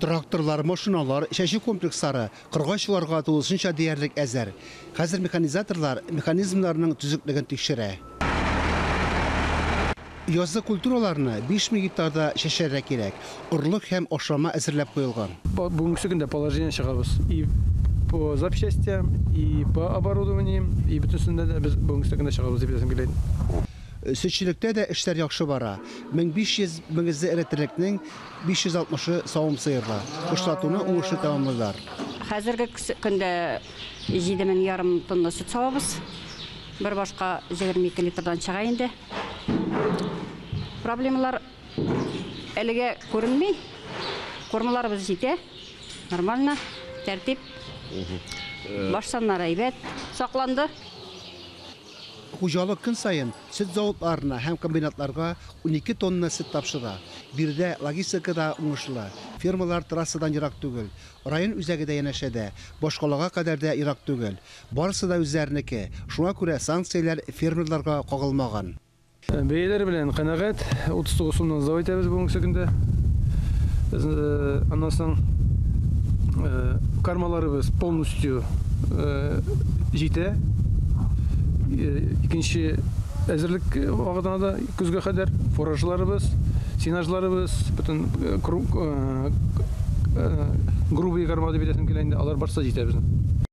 Тракторлар, машиналар, чәчү комплекслары кырга чыгарга тулысынча диярлек әзер. Хәзер механизаторлар механизмнарның төзеклеген тикшерә. Язгы культураларны 5000 гектарда чәчәргә кирәк. Орлык һәм ашлама әзерләп куелган. Бүгенгесе көндә положение чыгарбыз и по запчастям, и по оборудованием, и бөтенесендә дә без бүгенгесе көндә чыгарбыз дип әйтәсем килә инде. Сөтчелектә дә эшләр яхшы бара. 1500 мөгезле эретерлекнең 560-ы савым сыерга. Кышлатуны уңышлы тәмамлыйлар. Хәзерге көндә 7 мең ярым тонна сөт савабыз. Бер башка 22 литрдан чыга инде. Проблемалар әлегә күренми. Кормаларыбыз җитә. Нормально, тәртип. Баш саннары әйбәт, сакланды. Хуҗалык көн саен сөт заводларына һәм комбинатларга унике тонна сөт тапшыра. Биредә логистика да уңышлы, фермалар трассадан ерак түгел, район үзәге дә янәшә дә, башкалага кадәр дә ерак түгел. Барысы да үзләренеке, шуңа күрә санкцияләр фермерларга кагылмаган. Бәяләр белән канәгать. 39 сумнан зав итәбез бүгенге көндә. Аннан соң кармаларыбыз полностью җитә. Икенче әзерлек вакытына да көзгә кадәр фуражларыбыз, сенажларыбыз, бөтен грубые корма дип әйтәсем килә инде, алар барсы да җитә безнең.